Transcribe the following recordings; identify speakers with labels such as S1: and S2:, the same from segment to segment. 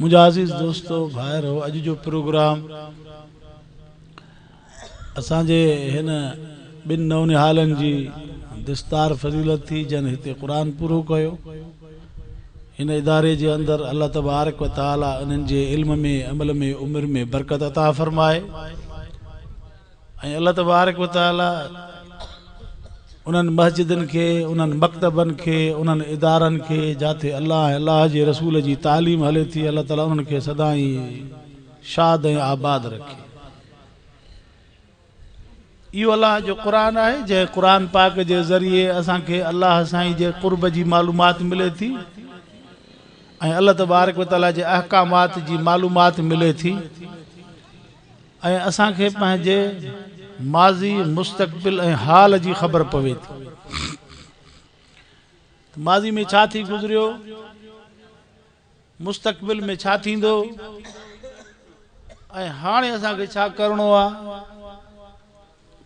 S1: منهنجا عزيز دوستو ڀائرو اڄ جو پروگرام اسان جي هن ٻن نونهالن جي دستار فضيلت ٿي جن هتي قرآن پورو ڪيو هن اداري جي اندر الله تبارڪ و تعالي انهن جي علم ۾ عمل ۾ عمر ۾ برڪت عطا فرمائي ۽ الله تبارڪ و تعاليٰ انهن مسجدن کي، انهن مڪتبن کي، انهن ادارن کي جاتي الله ۽ الله جي رسول جي تعليم هلي ٿي الله تعاليٰ انهن کي سدائين شاد ۽ آباد رکي. اهو الله جو قرآن آهي جنهن قرآن پاڪ جي ذريعي اسان کي الله سائين جي قرب جي معلومات ملي ٿي ۽ الله تبارڪ و تعاليٰ جي احڪامات جي معلومات ملي ٿي. ۽ اسان کي پنهنجي ماضي، مستقبل ۽ حال جي خبر پوي ٿي ته ماضي ۾ ڇا ٿي گذريو، مستقبل ۾ ڇا ٿيندو ۽ هاڻي اسان کي ڇا ڪرڻو آهي.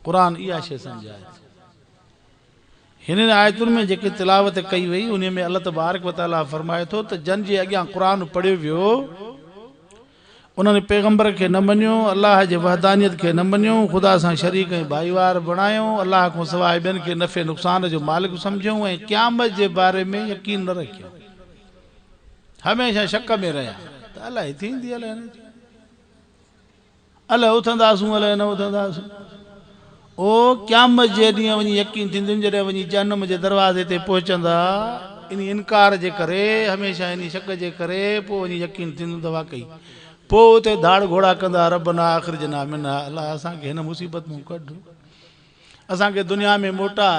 S1: قرآن اها شيء سمجهائي ٿو. هنن آيتن ۾ جيڪي تلاوت ڪئي وئي، انهي ۾ الله تبارڪ وتعاليٰ فرمائي ٿو ته جن جي اڳيان قرآن پڙهيو ويو، انهن پيغمبر کي نه مڃيو، الله جي وحدانيت کي نه مڃيو، خدا سان شريڪ ۽ ڀائيوار بڻايو، الله کانسواء ٻين کي نفعي نقصان جو مالڪ سمجهيو ۽ قيامت جي باري ۾ يقين نه رکيو. هميشه شڪ ۾ رهيا ته الائي ٿيندي الائي نه ٿيندي. الائي اٿنداسون الائي نه اٿنداسون. او قيامت جي ڏينهن وڃي يقين ٿيندين جڏهن وڃي جهنم جي دروازي تي پهچندا انهي انڪار جي ڪري هميشه انهي شڪ جي ڪري پوء وڃي يقين ٿيندين ته واقعي پوء اتي ڌاڙ گهوڙا ڪندا ربنا اخرجنا منها الله اسان کي هن مصيبت مان ڪڍ اسان کي دنيا ۾ موٽاء.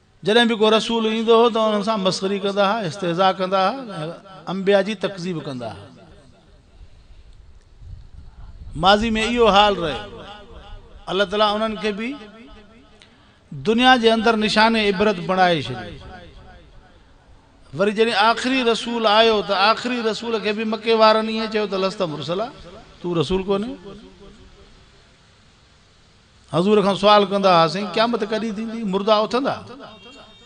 S1: جڏهن به ڪو رسول ايندو هو ته انهن سان مسخري ڪندا ها، استهزاء ڪندا ها ۽ انبياء جي تڪذيب ڪندا ها. ماضي ۾ اهو حال رهيو. الله تعالي انهن کي به دنيا جي اندر نشان عبرت بڻائي ڇڏيو. وري جڏهن آخري رسول آيو ته آخري رسول کي به مڪي وارن ائين چيو ته لست مرسلا، تون رسول ڪونهين. حضور کان سوال ڪندا ها، سائين قيامت ڪڏهن ٿيندي؟ مردا اٿندا؟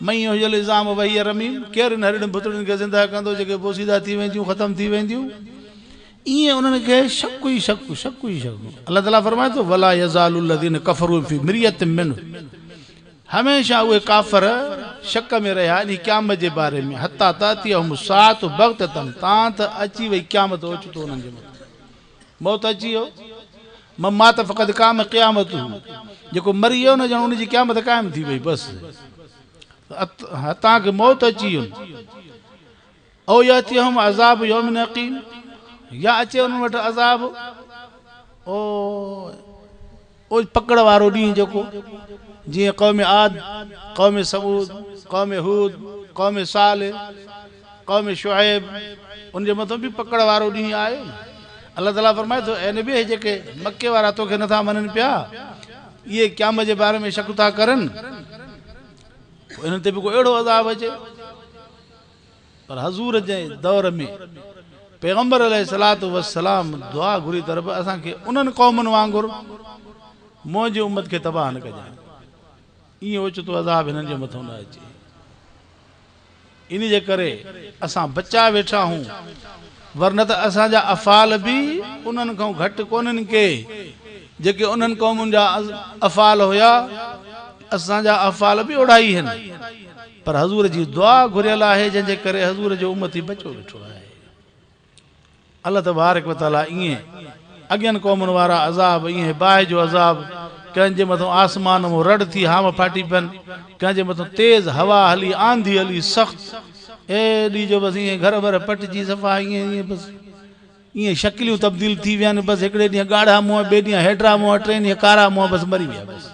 S1: من يحيي العظام وهي رميم، ڪير انهن هڏڙين ڀتڙين کي زنده ڪندو جيڪي بوسيده ٿي وينديون، ختم ٿي وينديون؟ ائين انهن کي شڪ ئي شڪ، شڪ ئي شڪ. الله تعاليٰ فرمائي ٿو، ولا يزال الذين كفروا في مريه منه، هميشه اهي ڪافر شڪ ۾ رهيا انهي قيامت جي باري ۾ حتي تاتيهم الساعة بغتة تان ته اچي وئي قيامت اوچتو انهن جي مٿان. موت اچي ويو، من مات فقد قام قيامته، جيڪو مري ويو نه ڄڻ ان جي قيامت قائم ٿي وئي، بس هتان کي موت اچي وين، او ياتيهم عذاب يوم عقيم، يا اچي انهن وٽ عذاب، او اوچ پڪڙ وارو ڏينهن جيڪو جيئن قوم عاد، قوم ثمود، قوم هود، قوم صالح، قوم شعيب ان جي مٿان به پڪڙ وارو ڏينهن آيو نه. الله تعاليٰ فرمائي ٿو، اي نبي اهي جيڪي مڪي وارا توکي نٿا مڃن پيا، اهي قيامت جي باري ۾ شڪ ٿا ڪرن، پوء انهن تي به ڪو اهڙو عذاب اچي. پر حضور جي دور ۾ پيغمبر عليه الصلوة والسلام دعا گهري ته رب اسان کي انهن قومن وانگر منهنجي امت کي تباهه نه ڪجانء ائين اوچتو عذاب هنن جي مٿو نه اچي ان جي ڪري اسان بچا ويٺا آهون ورنه ته اسان جا افعال به انهن کان گهٽ ڪونهن ڪي جيڪي انهن قومن جا افعال هيا اسان جا افعال به اوڙائي هن پر حضور جي دعا گهريل آهي جنهن جي ڪري حضور جو امتي بچو ويٺو آهي الله تبارڪ وتعالي ايئن اڳين قومن وارا عذاب ايئن باهه جو عذاب ڪنهن جي مٿان آسمان مون رڙ ٿي هام ڦاٽي پين ڪنهن جي مٿان تيز هوا هلي آنڌي هلي سخت ايڏي جو بس ايئن گهر ور پٽجي صفا ايئن ايئن بس ايئن شڪليون تبديل ٿي وين بس هڪڙي ڏينهن ڳاڙها منهن ٻئي ڏينهن هيڊرا منهن ٽئين ڏينهن ڪارا منهن بس مري ويا بس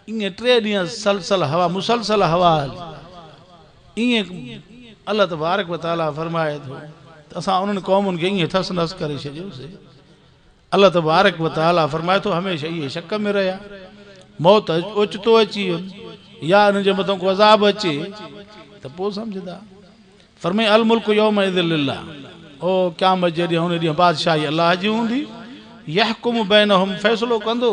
S1: ائين ٽي ڏينهن سلسل هوا مسلسل هوا هلي. ائين الله تبارڪ و تعاليٰ فرمائي ٿو ته اسان انهن قومن کي ائين ٿس نس ڪري ڇڏيوسي. الله تبارڪ و تعاليٰ فرمائي ٿو هميشه اهي شڪ ۾ رهيا. موت اوچتو اچي وين يا انهن جي مٿان ڪو عذاب اچي ته پوء سمجهندا. فرمائي الملڪ يومئذ لله او قيامت جي ڏينهن ان ڏينهن بادشاهي الله جي هوندي يحڪم بينهم فيصلو ڪندو.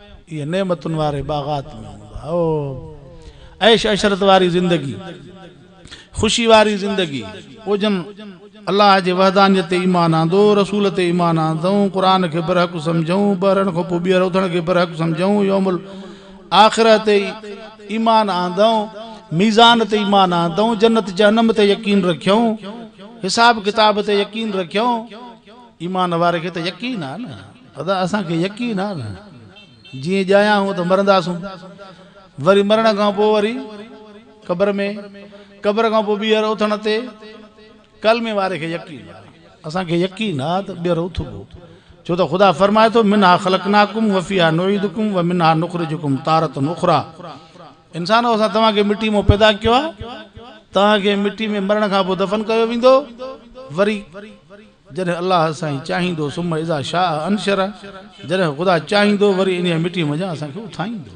S1: اهي نعمتن واري باغات ۾ هوندا. او عيش عشرت واري زندگي، خوشي واري زندگي، او جن الله جي وحدانيت تي ايمان آندو، رسول تي ايمان آندئون، قرآن کي برحق سمجهئون، ٻرڻ کان پوء ٻيهر اٿڻ کي برحق سمجهئون، يوم الاخره تي ايمان آندئون، ميزان تي ايمان آندئون، جنت جهنم تي يقين رکيئون، حساب ڪتاب تي يقين رکيئون، ايمان واري کي ته يقين آهي نه! ادا اسان کي يقين آ نه جي ڄايا هون ته مرنداسون وري مرڻ کان پو وري قبر ۾ قبر کان پو ٻيهر اٿڻ تي ڪلمي واري کي يقين آ اسان کي يقين آ ته ٻيهر اٿبو ڇو ته خدا فرمائي ٿو منها خلقناکم وفيها نعيدکم ومنها نخرجکم تارة اخرى انسانو اسان توهان کي مٽي مون پيدا ڪيو آ توهان کي مٽي ۾ مرڻ کان پو دفن ڪيو ويندو وري جڏهن الله سائين چاهيندو ثم اذا شاء انشره جڏهن خدا چاهيندو وري انهيء مٽيء منجهان اسان کي اٿائيندو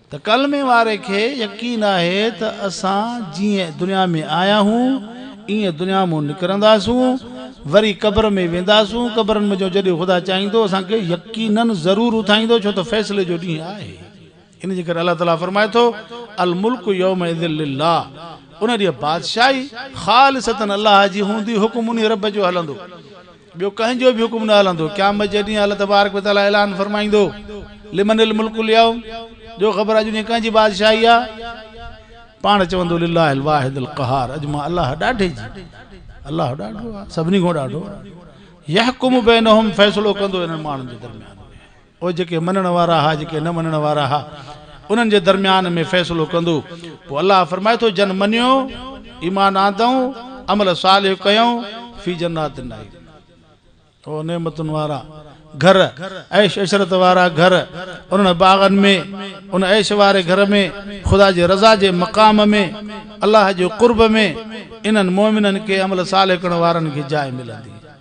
S1: ته ڪلمي واري کي يقين آهي ته اسان جيئن دنيا ۾ آيا هون ايئن دنيا مون نڪرنداسون وري قبر ۾ وينداسون قبرن منجهو جڏهن خدا چاهيندو اسان کي يقينن ضرور اٿائيندو ڇو ته فيصلي جو ڏينهن آهي. ان جي ڪري الله تعاليٰ فرمائي ٿو، الملڪ يومئذ لله، ان ڏينهن بادشاهي خالصة الله جي هوندي، حڪم انهي رب جو هلندو، ٻيو ڪنهن جو به حڪم نه هلندو، قيامت جي ڏينهن الله تبارڪ و تعاليٰ اعلان فرمائيندو، لمن الملڪ اليوم، جو خبر اڄ ڏينهن ڪنهن جي بادشاهي آ؟ پاڻ چوندو، لله الواحد القهار، اڄ مان الله ڏاڍي جي، الله ڏاڍو آ، سڀني کان ڏاڍو آ، يحڪم بينهم، فيصلو ڪندو انهن ماڻهن جي درميان ۾. پوء جيڪي مڃڻ وارا ها جيڪي نه مڃڻ وارا ها انهن جي درميان ۾ فيصلو ڪندو پوء الله فرمائي ٿو جن مڃيو، ايمان آندئون، عمل صالح ڪيئون، في جنات النعيم اهي نعمتن وارا گهر، عيش عشرت وارا گهر، انهن باغن ۾، ان عيش واري گهر ۾، خدا جي رضا جي مقام ۾، الله جي قرب ۾، انهن مؤمنن کي، عمل صالح ڪرڻ وارن کي جاء ملندي.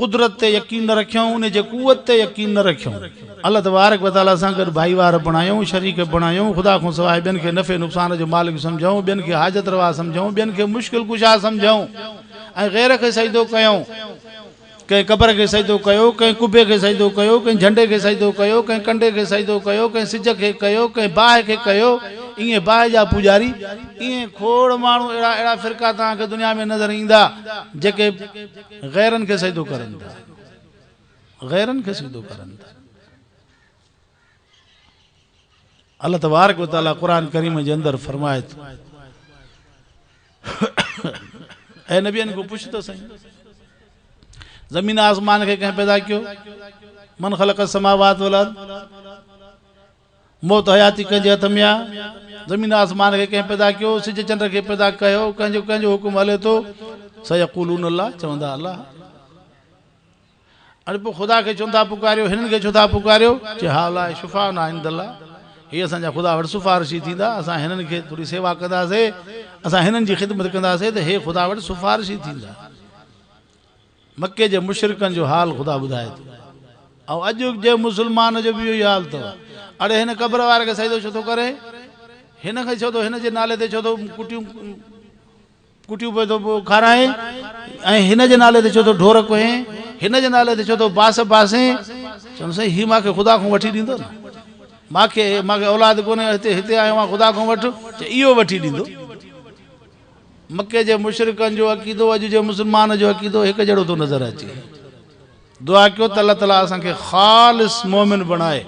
S1: قدرت تي يقين نه رکيائون، ان جي قوت تي يقين نه رکيائون. الله تبارڪ و تعاليٰ سان گڏ ڀائيوار بڻايائون، شريڪ بڻايائون، خدا کان سواء ٻين کي نفعي نقصان جو مالڪ سمجهيائون، ٻين کي حاجت روا سمجهيائون، ٻين کي مشڪل ڪشا سمجهيائون ۽ غير کي سجدو ڪيائون. ڪنهن قبر کي سجدو ڪيو، ڪنهن قبي کي سجدو ڪيو، ڪنهن جهنڊي کي سجدو ڪيو، ڪنهن ڪنڊي کي سجدو ڪيو، ڪنهن سج کي ڪيو، ڪنهن باهه کي ڪيو، ايئن باهه جا پوڄاري، ايئن کوڙ ماڻهو اهڙا اهڙا فرقا توهان کي دنيا ۾ نظر ايندا جيڪي. غيرن کي سجدو ڪرن ٿا غيرن کي سجدو ڪرن ٿا الله تبارک و تعالی قرآن کريم جي اندر فرمائي ٿو اي نبي ان کو پڇ ته سائين زمين آسمان کي ڪنهن پيدا ڪيو من خلق السماوات والارض موت حياتي ڪنهن جي هٿ ۾ آ؟ زمين آسمان کي ڪنهن پيدا ڪيو؟ سج چنڊ کي پيدا ڪيو ڪنهن جو ڪنهن جو حڪم هلي ٿو؟ سيقولون الله چوندا الله. اڙي پوء خدا کي ڇو نٿا پڪاريو؟ هنن کي ڇو ٿا پڪاريو؟ چئه هاءلاء شفاعنا عند الله هي اسان جا خدا وٽ سفارشي ٿيندا اسان هنن کي ٿوري سيوا ڪنداسين اسان هنن جي خدمت ڪنداسين ته هي خدا وٽ سفارشي ٿيندا. مڪي جي مشرڪن جو حال خدا ٻڌائي ٿو ۽ اڄ جي مسلمان جو به اهو ئي حال اٿو. اڙي هن قبر واري کي سجدو ڇو ٿو ڪري؟ هن کي ڇو ٿو هن جي نالي تي ڇو ٿو ڪٽيون ڪٽيون پئي ٿو کارائين ۽ هن جي نالي تي ڇو ٿو ڍور ڪوهين؟ هن جي نالي تي ڇو ٿو باس باسين؟ چون سائين هي مان کي خدا کان وٺي ڏيندو نه مان کي مان کي اولاد ڪونهي هتي هتي آيو آهيان خدا کان وٺ چي اهو وٺي ڏيندو. مڪي جي مشرڪن جو عقيدو اڄ جي مسلمان جو عقيدو هڪ جهڙو ٿو نظر اچي دعا ڪيو ته الله تعاليٰ اسان کي خالص مومن بڻائي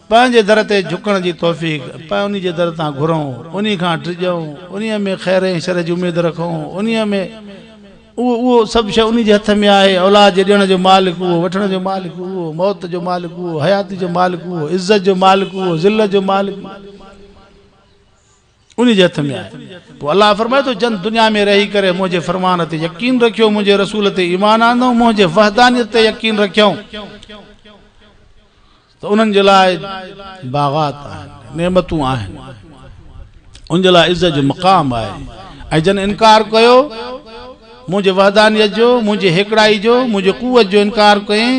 S1: پنهنجي در تي جھڪڻ جي توفيق پاء انهي جي در تان گھرون انهي کان ڊڄون انهي ۾ خير ۽ شر جي اميد رکون انهي ۾ اهو اهو سڀ شيء انهي جي هٿ ۾ آهي اولاد جي ڏيڻ جو مالڪ اهو وٺڻ جو مالڪ اهو موت جو مالڪ اهو حياتي جو مالڪ اهو عزت جو مالڪ اهو ذلت جو مالڪ اهو انهي جي هٿ ۾ آهي. پوء الله فرمائي ٿو، جن دنيا ۾ رهي ڪري منهنجي فرمان تي يقين رکيو، منهنجي رسول تي ايمان آندئون، منهنجي وحدانيت تي يقين رکيائون ته انهن جي لاء باغات آهن، نعمتون آهن، انهن جي لاء عزت جو مقام آهي ۽ جن انڪار ڪيو منهنجي وحدانيت جو، منهنجي هيڪڙائي جو، منهنجي قوت جو انڪار ڪيئين،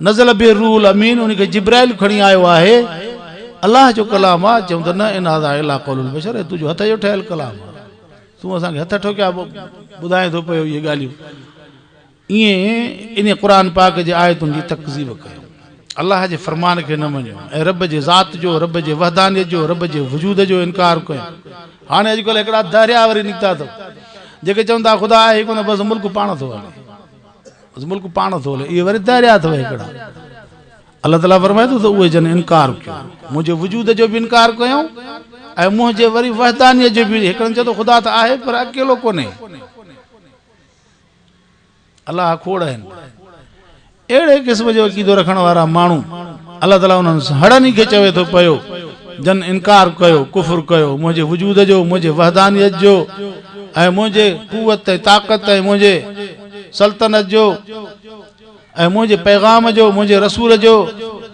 S1: نزل به الروح الامين ان کي جبرائيل کڻي آيو آهي الله جو ڪلام آ چيون ته نه ان هذا الا قول البشر هي تنهنجو هٿ جو ٺهيل ڪلام آ تون اسان کي هٿ ٺوڪيا ٻڌائين ٿو پيو اهي ڳالهيون ائين ان قرآن پاڪ جي آيتن جي تڪذيب ڪيو الله جي فرمان کي نه مڃيو ۽ رب جي ذات جو رب جي وحدانيت جو رب جي وجود جو انڪار ڪيو هاڻي اڄڪلهه هڪڙا دهريا وري نڪتا اٿو جيڪي چون ٿا خدا آهي ڪونه بس ملڪ پاڻ ٿو هلي بس ملڪ پاڻ ٿو هلي اهي وري دريا اٿو هڪڙا الله تعاليٰ فرمائي ٿو ته اهي جن انڪار ڪيو منهنجي وجود جو به انڪار ڪيو ۽ منهنجي وري وحدانيت جو به هڪڙن چيو ته خدا ته آهي پر اڪيلو ڪونهي الله کوڙ آهن اهڙي قسم جو عقيدو رکڻ وارا ماڻهو الله تعاليٰ انهن هڙن ئي کي چوي ٿو پيو جن انڪار ڪيو کفر ڪيو منهنجي وجود جو منهنجي وحدانيت جو ۽ منهنجي قوت ۽ طاقت ۽ منهنجي سلطنت جو ۽ منهنجي پيغام جو، منهنجي رسول جو،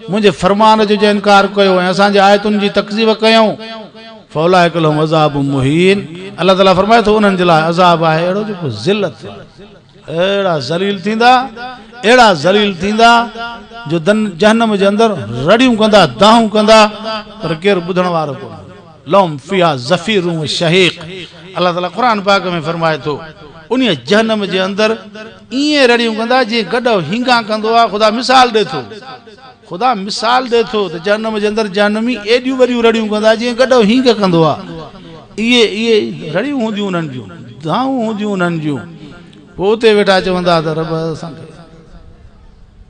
S1: منهنجي فرمان جو جنهن انڪار ڪيو ۽ اسان جي آيتن جي تڪذيب ڪيائون، فاولئک لهم عذاب مهين، الله تعاليٰ فرمائي ٿو انهن جي لاء عذاب آهي اهڙو جيڪو ذلت اهڙا ذليل ٿيندا اهڙا ذليل ٿيندا جو جهنم جي اندر رڙيون ڪندا دانهون ڪندا پر ڪير ٻڌڻ وارو ڪونهي لهم فيها زفير و شهيق الله تعاليٰ قرآن پاڪ ۾ فرمائي ٿو انهي جهنم جي اندر ائين رڙيون ڪندا جيئن گڏهو هينگان ڪندو آهي خدا مثال ڏي ٿو خدا مثال ڏي ٿو ته جهنم جي اندر جهنمي ايڏيون وڏيون رڙيون ڪندا جيئن گڏهو هينگ ڪندو آهي اهي اهي رڙيون هونديون انهن جون دانهون هونديون انهن جون پوء اتي ويٺا چوندا ته رب اسان کي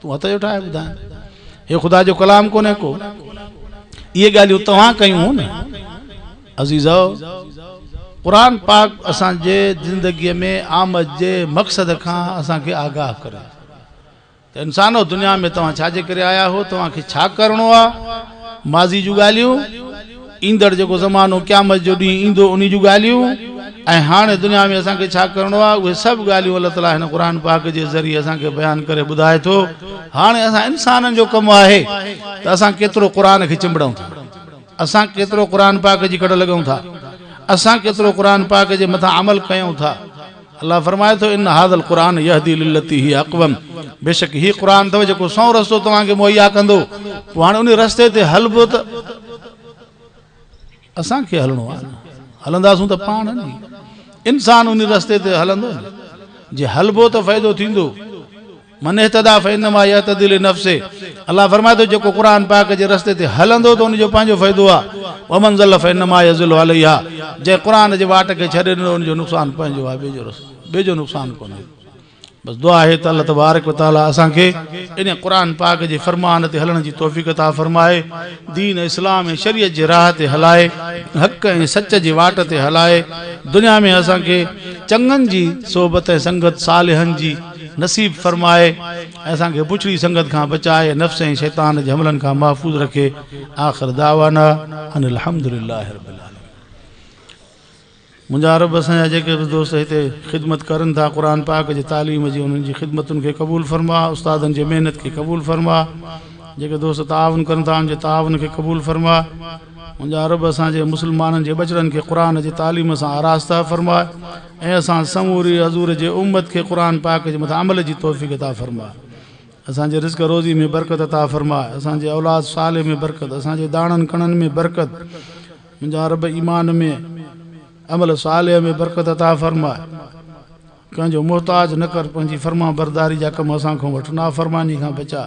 S1: تون هٿ جو ٺاهي ٻڌائين. هي خدا جو ڪلام ڪونهي ڪو. اهي ڳالهيون توهان ڪيون هون نه. عزيزؤ! قرآن پاڪ اسان جي زندگيء ۾ آمد جي مقصد کان اسان کي آگاهه ڪري ته انسانؤ دنيا ۾ توهان ڇا جي ڪري آيا هئو؟ توهان کي ڇا ڪرڻو آ؟ ماضي جون ڳالهيون. ايندڙ جيڪو زمانو قيامت جو ڏينهن ايندو انهي جون ڳالهيون ۽ هاڻي دنيا ۾ اسان کي ڇا ڪرڻو آهي اهي سڀ ڳالهيون الله تعالي هن قرآن پاڪ جي ذريعي اسان کي بيان ڪري ٻڌائي ٿو هاڻي اسان انسانن جو ڪم آهي ته اسان ڪيترو قرآن کي چنبڙون ٿا اسان ڪيترو قرآن پاڪ جي ڪڙ لڳون ٿا اسان ڪيترو قرآن پاڪ جي مٿان عمل ڪيون ٿا. الله فرمائي ٿو، ان هذا القرآن يهدي للتي هي اقوم، بيشڪ هي قرآن اٿو جيڪو سنئون رستو توهان کي مهيا ڪندو، پوء هاڻي انهي رستي تي هلبو ته اسان کي هلڻو آهي نه، هلنداسون ته پاڻ نه، انسان انهي رستي تي هلندو نه، جي هلبو ته فائدو ٿيندو. من اهتدي فانما يهتدي لنفسه الله فرمائي ٿو جيڪو قرآن پاڪ جي رستي تي هلندو ته ان جو پنهنجو فائدو آهي ومن ضل فانما يضل عليها جنهن قرآن جي واٽ کي ڇڏي ڏنو ان جو نقصان پنهنجو آهي ٻئي جو رس ٻئي جو نقصان ڪونهي بس دعا آهي ته الله تبارڪ وتعالي اسان کي ان قرآن پاڪ جي فرمان تي هلڻ جي توفيق عطا فرمائي دين اسلام ۽ شريعت جي راهه تي هلائي حق ۽ سچ جي واٽ تي هلائي دنيا ۾ اسان کي چڱن جي صحبت ۽ سنگت صالحن جي نصيب فرمائي ۽ اسان کي بڇڙي سنگت کان بچائي نفس ۽ شيطان جي حملن کان محفوظ رکي آخر دعوانا ان الحمد لله رب العالمين منهنجا عرب اسان جا جيڪي به دوست هتي خدمت ڪرن ٿا قرآن پاڪ جي تعليم جي انهن جي خدمتن کي قبول فرما استادن جي محنت کي قبول فرما جيڪي دوست تعاون ڪرن ٿا ان جي تعاون کي قبول فرما منهنجا عرب اسان جي مسلمانن جي ٻچڙن کي قرآن جي تعليم سان آراسته فرما اي اسان سموري حضور جي امت کي قرآن پاڪ جي مٿان عمل جي توفيق عطا فرماء اسان جي رزق روزي ۾ برڪت عطا فرماء اسان جي اولاد صالح ۾ برڪت اسان جي داڻن ڪڻن ۾ برڪت منهنجا رب ايمان ۾ عمل صالح ۾ برڪت عطا فرماء ڪنهن جو محتاج نه ڪر پنهنجي فرمان برداري جا ڪم اسان کان وٺ نافرماني کان بچاء